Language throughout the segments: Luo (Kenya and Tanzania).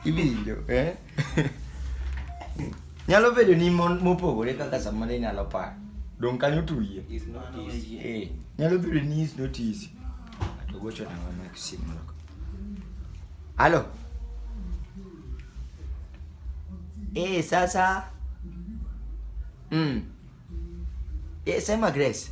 iwinjo eh? nyalo bedo ni mon- mopogore kaka sama ne inyalo paro dong kanyo tuye It's not easy. Eh, nyalo bedo ni is not easy to gocho na mama ya simu loko halo eh sasa mm eh sema grace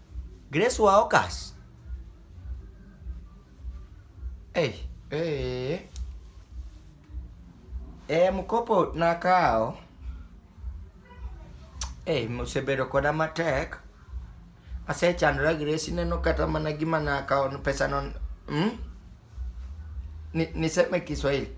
Grace wa Okas. Hey. Hey. Eh, mkopo nakawo. Hey, mosebedo koda matek. Asechandora Grace neno kata mana gima nakawo pesa non. Hmm? Ni, niseme Kiswahili.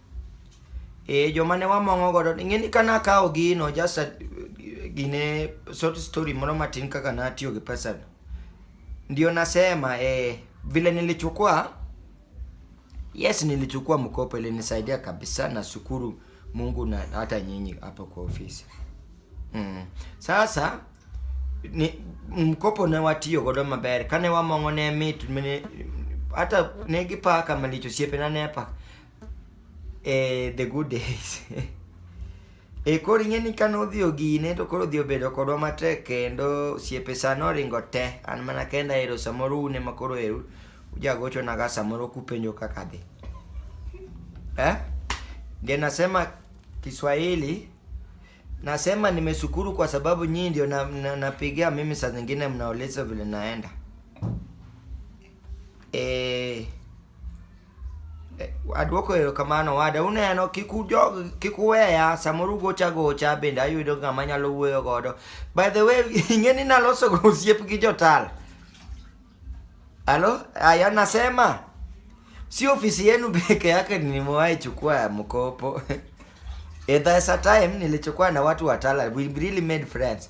Eh, joma ne wamong'o godo, ing'e ni ka nakawo gino, just a, gine short story moro matin kaka natiyo gi pesa. Ndio nasema eh, vile nilichukua yes, nilichukua mkopo, ilinisaidia kabisa. Nashukuru Mungu na hata nyinyi hapo kwa ofisi mm. Sasa ni mkopo ne watiyo godo maber kane wamong'o ne mit mine, hata ne gipaka malicho siepena ne paka eh, the good days e koro ing'e ni kane odhi ogine to koro odhi obedo kodwa matek kendo siepe sano oringo te an mana kenda ero samoro une ma koro eru ujagochonaga samoro kupenjo kaka dhi eh? ndio nasema kiswahili nasema nimeshukuru kwa sababu nyinyi ndio napigia na, na mimi saa zingine mnaoleza vile naenda Eh, eh, aduoko erokamano owada. Uneno kik ujog kik uweya samoro ugocha gocha bende ayudo ng'ama nyalo wuoyo godo. By the way, ing'e ni naloso go osiep gi jotal. Halo, aya nasema si ofisi yenu peke yake nimewahi chukua mkopo. Eh, there's a time nilichukua na watu wa Tala. We really made friends.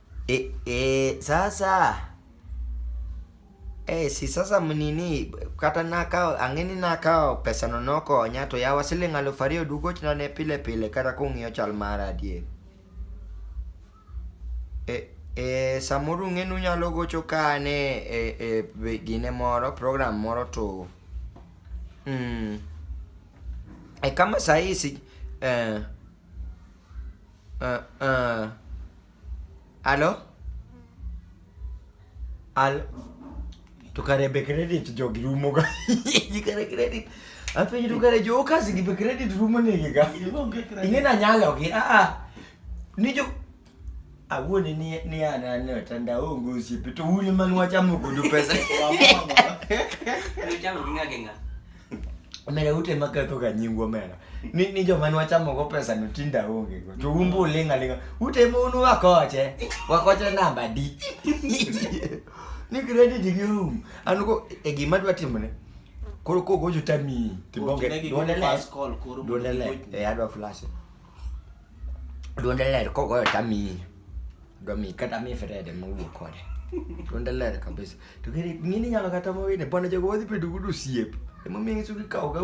E, e, sasa e, si sasa mnini kata nakawo ang'eni nakawo pesano nokonya to yawa siling' aluf ariyo dugochna ne pile pile kata kung'iyo chal mara adier e, e, samoro ung'eni unyalo gocho ka ane e, e, be- gine moro program moro to mm, e kama sahii si, eh, Ee, ee. Alo? Alo? To kare be credit jogi rumo ga. Ji kare credit. Apenji to kare jo kasi gi be credit rumo negi ga. Ing'e na nyalo gi. Ah ah. Ni jo awuone ni ni an an e tanda aonge osiepe to un ema nwachamo kodu pesa Uchamo gi ng'a gi ng'a. omera ute ma ketho ga nyingwa omera ni ni joma nwachamo go pesa no tinda aonge go to umbu uling' aling'a ute ma unu wakoche wakoche namba di ni credit gi room an go e gima dwa timone koro kogocho tamiyi tibonge Otinegi go duonele first call koro duonele mondo e adwa flash Duonde ler kogoyo tamiyi. Dwa miyi kata miyi fedede mowuok kode. Duonde ler kabisa. To kere ng'ini inyalo kata mowine bwana jogo wadhi bedo godo osiepe. Emomiyo inyiso gikawoga u.